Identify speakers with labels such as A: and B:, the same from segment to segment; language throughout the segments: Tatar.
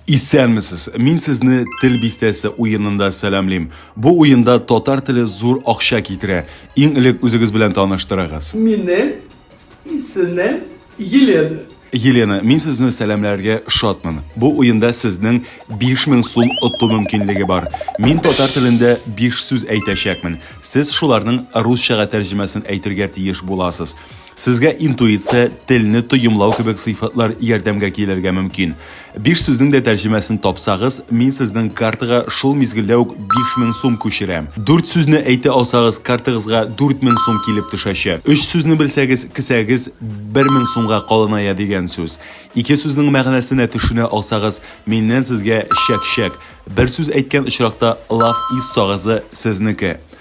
A: Исәнмесез! Мин сезне Тел бистәсе уенында сәламлим. Бу уенда татар теле зур акча китерә. Иң элек үзегез белән таныштырыгыз. Минем исемем Елена. Елена, мин сезне сәламләргә шатмын. Бу уенда сезнең 5000 сум оту мөмкинлеге бар. Мин татар телендә биш сүз әйтәчәкмен. Сез шуларның русчага тәрҗемәсен әйтергә тиеш буласыз. Сезгә интуиция, телне тоемлау кебек сыйфатлар ярдәмгә килергә мөмкин. Биш сүзнең дә тәрҗемәсен тапсагыз, мин сезнең картага шул мизгелдә үк 5000 сум күчерәм. Дүрт сүзне әйтә алсагыз, картагызга 4000 сум килеп төшәчәк. Өч сүзне белсәгез, кесәгез 1000 сумга калыная дигән сүз. Ике сүзнең мәгънәсенә төшенә алсагыз, миннән сезгә чәк-чәк. Бер сүз әйткән очракта, лав ис сагызы сезнеке.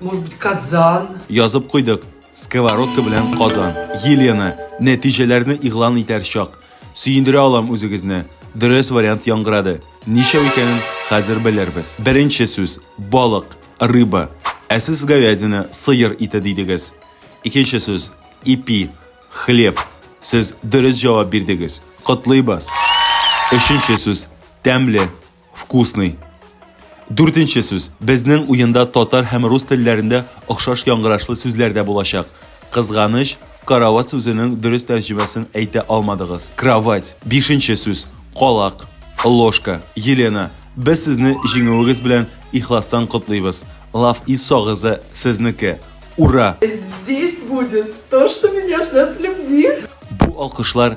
A: Может быть, казан? Язып куйдык. Сковородка белән казан. Елена, нәтиҗәләрне игълан итәр чак. Сөендерә алам үзегезне. Дөрес вариант яңгырады. Ничәү икәнен хәзер белербез. Беренче сүз, балык, рыба. Ә сез говядина, сыер ите дидегез. Икенче сүз, ипи, хлеб. Сез дөрес җавап бирдегез. Котлыйбыз. Өченче сүз, тәмле. Вкусный. Дүртенче сүз. Безнең уенда татар һәм рус телләрендә охшаш яңгырашлы сүзләр дә булачак. Кызганыч, карават сүзенең дөрес тәрҗемәсен әйтә алмадыгыз. Кровать. Бишенче сүз. Калак. Ложка. Елена, без сезне җиңүегез белән ихластан котлыйбыз. Лав из сагызы сезнеке. Ура! Здесь будет то, что меня ждет в любви. Бу алкышлар